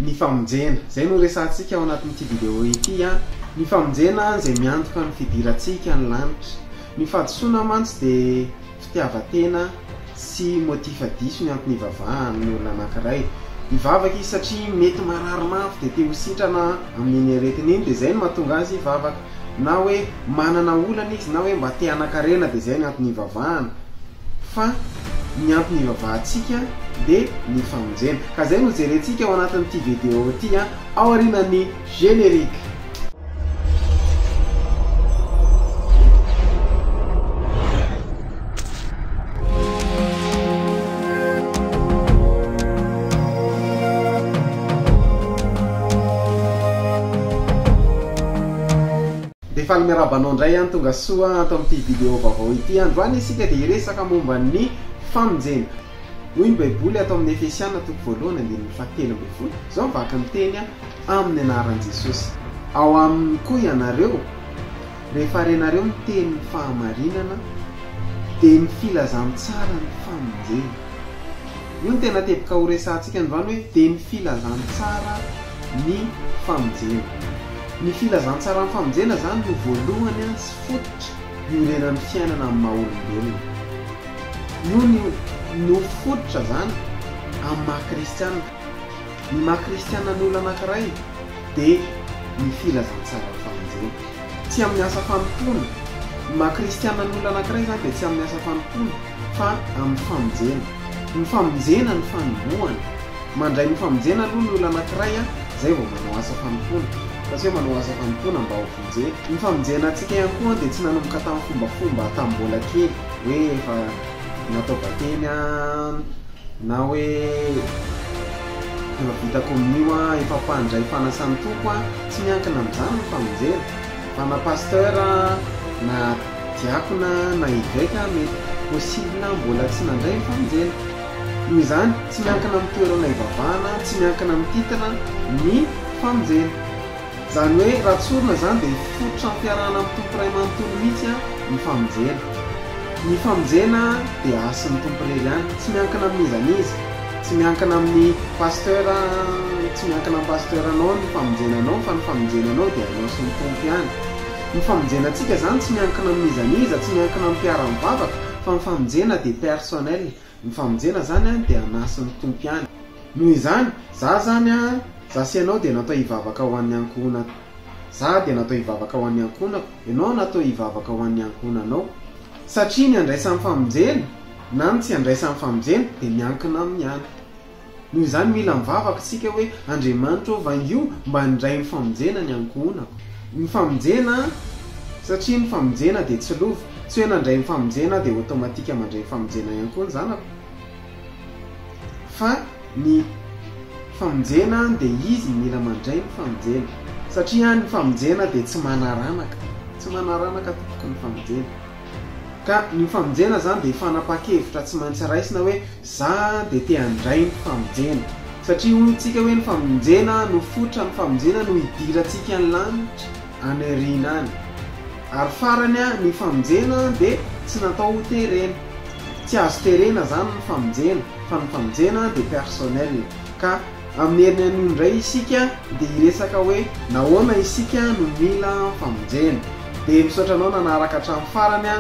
ny famonjena. Izay no resahantsika ao anatin'ity video ity an! Ny famonjena izay miantoka ny fidirantsika ny lanitra. Ny fahadisoana mantsy dia fitiavan-tena sy motif diso ny antony ivavahan'ny olona anankiray. Hivavaka izy satria mety marary mafy dia te ho sitrana amin'iny aretina iny dia izay no mahatonga azy hivavaka. Na hoe manana olana izy na hoe mba te hanan-karena dia izay ny antony ivavahana. fa ny antony ivavahantsika dia ny famonjena ka izay no jerentsika ao anatin'ity video ity a, ao aorianan'ny générique. Dia faly miarahaba anao indray an Tonga soa ato amin'ity video vaovao ity Androany isika dia hiresaka momba ny famonjena Hoy ny baiboly ato amin'ny Efesiana toko voalohany andininy fahatelo ambin'ny folo Izao ny vaky ny teny amin'ny anaran'i Jesosy Ao aminy koa ianareo Rehefa renareo miteny ny fahamarinana Dia ny filazantsara ny famonjena Io no tena teboka horesahantsika androany hoe Dia ny filazantsara ny famonjena Ny filazantsaran'ny famonjena izany no voalohany sy fototra iorenan'ny fiainana amin'ny maha olombelona. Io ny no fototra izany amin'ny maha kristiana. Ny maha kristiana ny olona anankiray dia ny filazantsaran'ny famonjena. Tsy amin'ny asa fanompoana. Ny maha kristiana ny olona anankiray izany dia tsy amin'ny asa fanompoana fa amin'ny famonjena. Ny famonjena no fanombohana. Mandray ny famonjena aloha ny olona anankiray an, zay vao manao asa fanompoana. Fa tsy hoe manao asa fanompoana mba ho vonjena. Ny famonjena antsika ihany koa an dia tsy nanomboka tamin'ny fombafomba tamin'ny mbola kely, hoe efa natao batemy an, na hoe efa vita komonio an, efa mpandray fanasan'ny Tompo an, tsy miankina amin'izany ny famonjena. Fa na pasteur an, na diakona an, na eveka an, mety possible mbola tsy nandray ny famonjena. Noho izany, tsy miankina amin'ny toerana ivavahana, tsy miankina amin'ny titre, ny famonjena. Izany hoe raha tsorina izany dia fototra ampiarahana amin'ny Tompo Ray manontolo mihitsy ny famonjena. Ny famonjena dia hasin'ny Tompo irery ihany, tsy miankina amin'iza n'iza, tsy miankina amin'ny pasteur, tsy miankina amin'ny pasteur anao ny famonjena anao fa ny famonjena anao dia anao sy ny Tompo ihany. Ny famonjena antsika izany tsy miankina amin'iza n'iza, tsy miankina amin'ny mpiara-mivavaka fa ny famonjena dia personnel. Ny famonjena zany an dia anasin'ny Tompo ihany. Noho izany, za zany an, za sy ianao dia natao hivavaka ho an'ny ankohonako. Za dia natao hivavaka ho an'ny ankohonako, ianao natao hivavaka ho an'ny ankohonanao. Satria ny andraisan'ny famonjena na ny tsy andraisan'ny famonjena dia miankina aminy ihany. Noho izany mila mivavaka isika hoe, Andriamanitra ô, vangio mba handray ny famonjena ny ankohonako. Ny famonjena, satria ny famonjena dia tsy lova. Tsy hoe nandray ny famonjena aho dia automatique mandray ny famonjena ihany koa ny zanako. Fa ny famonjena dia izy mila mandray ny famonjena. Satria ny famonjena dia tsy manaranaka. Tsy manaranaka tompoko ny famonjena. Ka ny famonjena izany dia fanapahan-kevitra tsy maintsy raisina hoe, Za de te handray ny famonjena. Satria hoy tsika hoe ny famonjena no fotra ny famonjena no hidirantsika any lanitra any aoriana any. Ary farany a ny famonjena de tsy natao ho terena. Tsy azo terena zany ny famonjena fa ny famonjena de personnel. Ka amin'ny heriny anio indray isika de hiresaka hoe nahoana isika no mila famonjena. De misaotra anao nanaraka hatramin'ny farany a.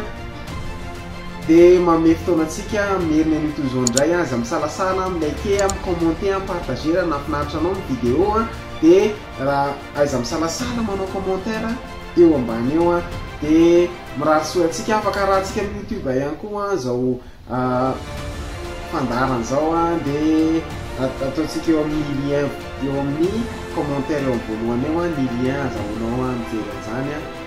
Dia manome fotoana antsika hamerina an'io toy izao indray an! Aza misalasala an! Mi-liker an, mi-commenter an, mi-partager raha nahafinaritra anao ny vidéo an! Dia raha aiza misalasala manao commentaire eo ambany eo an! Dia mirary soa antsika, afaka arahantsika amin'ny youtube ihany koa izao fandaharana izao an! Dia ataontsika eo amin'ny lien eo amin'ny commentaire eo amin'ny voalohany eo ny lien azahoanao mijery an'izany an!